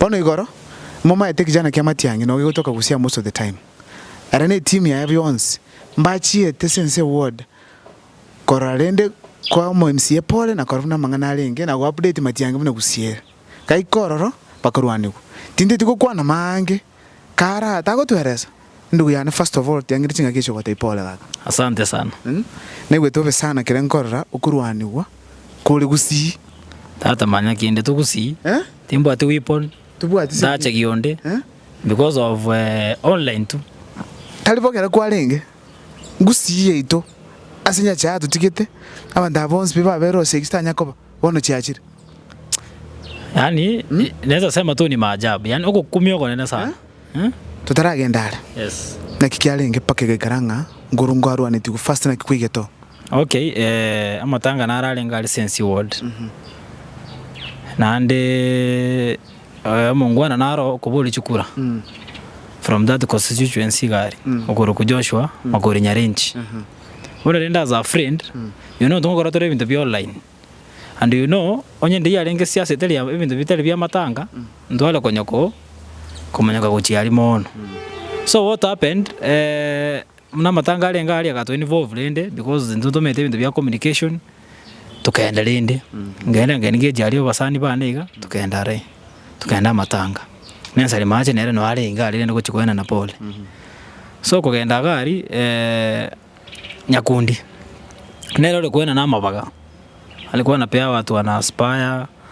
Bono igoro momaete ekechana kia matiang'i nogo igotoka gosia most of the time. Ere ne team yaye bionsi mbachiete since a ward korora rende kwa omo MCA pore na kora buna amang'ana arenge na go update matiang'i buna gosia ere. Gaika ororo bakorwanigwa. Tinteti gokwana maange. Kara tagotweresa. Ndugu yane first of all tiangire chingaki echi ogotebia pole kaka. Asante sana. Naigwete bobe sana keria nkorora okorwanigwa kore gusii. Tata manya kende togusii timbwati weapon ndache gionde because of online tu. Tari bo kera kwarenge gusii yaito ase nyache yatotigete abanto aba bonsi pi babere ose eki titanya koba. Bono chiachire. Yaani naweza sema tu ni maajabu. Yaani ogokumia ogonene sana. Eh? Totaragenda are. Yes. Naki kiarenge mpaka egaikara ng'a nguru ngo arwanetigwe first naki kwaigeto. Okay, eh, amatanga nara arenge are sense ward. Mm -hmm. Naande eh, omongwana naro okobori chikura. Mm. From that constituency gari. Mm. Okoroku Joshua, mm. Makori Nyarenchi. Mm -hmm. Ore rende as a friend, you know tongokora tore ebinto bia online, and you know onye ndeiyo arenge siasa etari ebinto bitari bia matanga, ntware konya ko komonyoka gochia aria mono. So what happened, eh, buna amatanga arenge aria agato involve rende because intwe ntomanyete ebinto bia communication, togenda rende, ngenda ngende ngeche aria abasani bane iga, togenda are, togenda amatanga. Na ense rimache nere noo arenge aria rende gochia koenana pole. Ase okogenda iga aria Nyakundi, nere ore koenana amabaga, are koena piawa twana Spire.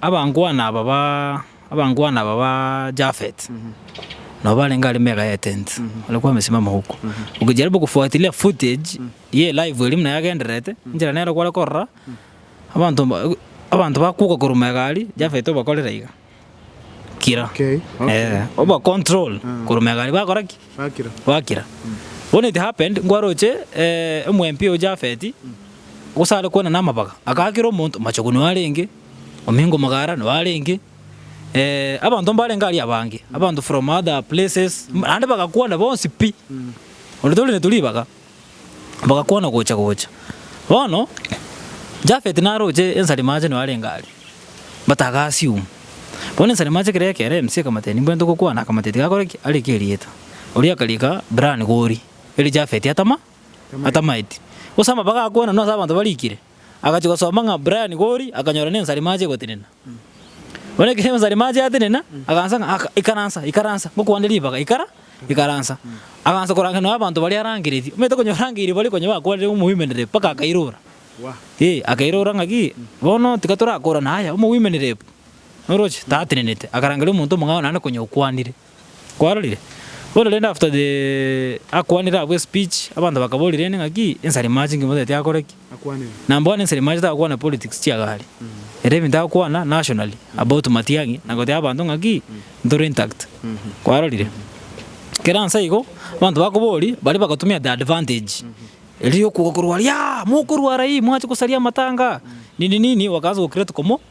Abangwana aba ba, abangwana aba ba Jafet, nabo barenge aria mega ya etent, ore kwamesima amahuko. Ogejaribu gofuatilia footage ye live eria buna yagendererete, enchera nero kware korora, abanto mba, abanto bakuka korwa mega aria, Jafet obakorera iga, kira. Okay, okay. Eh, obacontrol Mm. korwa mega aria, bakora ki? Bakira. bakira when it happened nkware oche eh, omwempi o Jafet Gose are kwana namabaga, akaakera omonto machogu noyo arenge, omingo omogara noyo arenge, eh, abanto mbarenge aria abange, abanto from other places, naende bagakwana bonsi pi, onde torenetwe ribaga, bagakwana gocha gocha. Bono Jafeti naroche ensarima ache noyo arenge aria, but aga assume. Bono ensarima ache ekero ekera emusia ekamotebia nimbwene togokwana, akamotebia tiga akore ki? Areke erieta. Oria akariika Bran Gori, erio Jafeti atama. atamaeti, gose amabaga a koenana ase abanto barikire, agachia gosoma ng'a Brian Gori akanyora nensarima ache gotenena. Bono ekero ensarima ache yatenena, agansa ng'a aka ikaransa ikaransa ngokwande ribaga ikara ikaransa. Agansa korangera nonye abanto baria arangeretie, omanyete konya orangeirie baria konya bakwanire ng'a omowoimenere mpaka akairora, eh akairora ng'a ki bono tiga torakorane aya omowoimenere pu, oroche tatenenete, akarangeria omonto omong'ao naende konya okwanire. Kwarorire? Bono rende after the akwanire abwo espeech, abanto bakaboria rende ng'aki ensarimachi ngima otagete akore ki? Na bono ensarimachi takwana politics chia gari. Ere ebinto agokwana nationally about Matiang'i na gotebia abanto ng'aki ntore intact. Kwarorire? Kera nsa igo, abanto bakoboria baria bagatumia the advantage eria ya okoigwa korwa aria, mokorwa aria, mwache gosaria amatanga, nini nini, bakaanza go create komo.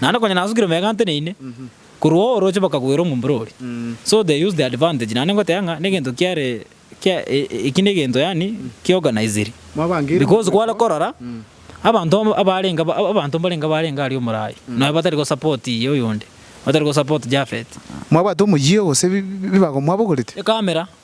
Naende konya nasukire omega nteneine korwa oo orooche mpaka koira omombero oria. So they use the advantage naende ngoteba ng'a negento kiare kia eki negento yaani ki organiziri. Because kware korora abanto abarenge abanto mbarenge abarenge aria omorai nonya batari go support oyonde, batari go support Japhet. Mwabwate omoyio gose bibago mwabogorete? Ecamera.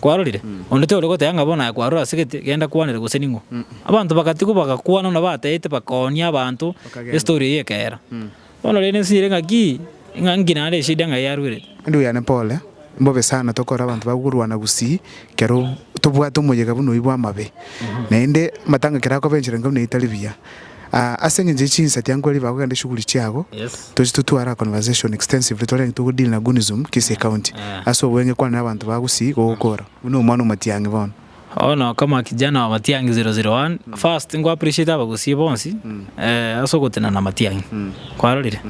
Kwarorire? Onde tore goteba ng'a bono aye kwarora ase gete, genda kwanere gose ning'o. Abanto bagatigwa bagakwana buna bateete bakoonia abanto estory eyio ekeera. Bono rende ense ere ng'aki? Ng'a nki naende eshida ng'ai yarwerete? Ndugu yane pole, mbobe sana tokore abanto bakorwana gusii kero tobwate omoyega buna oyio bw'amabe. Naende amatanga kerakoba enchera enka buna etari buya. Aa ase engencho ye chinsati ango aria bagoka ende shughuli chiabo toche totware a conversation extensively tore ng'aki togo deal na Gunism Kisii County ase obweng'e kwane na abanto ba Gusii gogokora buna omwana omotiang'i bono. Bono kama kijana wa Matiang'i zero zero one first nko appreciate abagusii bonsi ase ogotenena Matiang'i kwarorire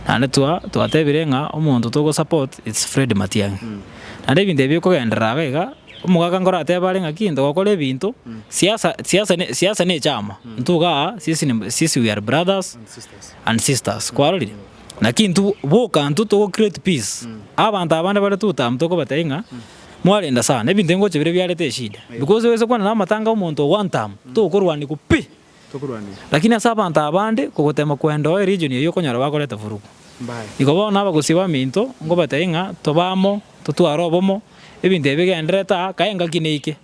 naende twa twatebire ng'a omonto togo support it's Fred Matiang'i naende ebinto ebi okogenderera iga iga. Omogaka nkoro ateeba are ng'aki ntogokora ebinto, siasa siasa ne siasa ne echaama, intwe iga aa sisi ne sisi we are brothers and sisters kwarorire? Naki intwe boka intwe togo create peace, abanto abande bare two term tokobatebi ng'a mwarenda sana, ebinto engocha bire biarete eshida, because ogose kwana na amatanga ya omonto one term, tokorwanigwa pi. Lakini ase abanto abande kogoteema kwenda oo eregion eyio okonyora bakoreta furugu. Igo bono abagosi baminto nkobatebie ng'a tobe amo totware obomo, ebinto ebi bigendererete aa kae engaki neike,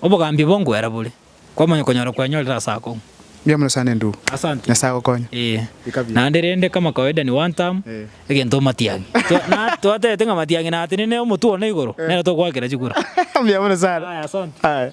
obogambi bo nkwera bore, kwamanya okonyora kwenyorire ase akong'u. Mbuya mono sana endugu. Asante. Nyasae agokonye. Ee. Bikabie. Naende rende kama kawaida ni one term, egento omatiang'i. Twa na twatebete ng'a matiang'i natenene omotwe one igoro, nere tokoakera chikura. Mbuya mono sana. Aya asante. Aya.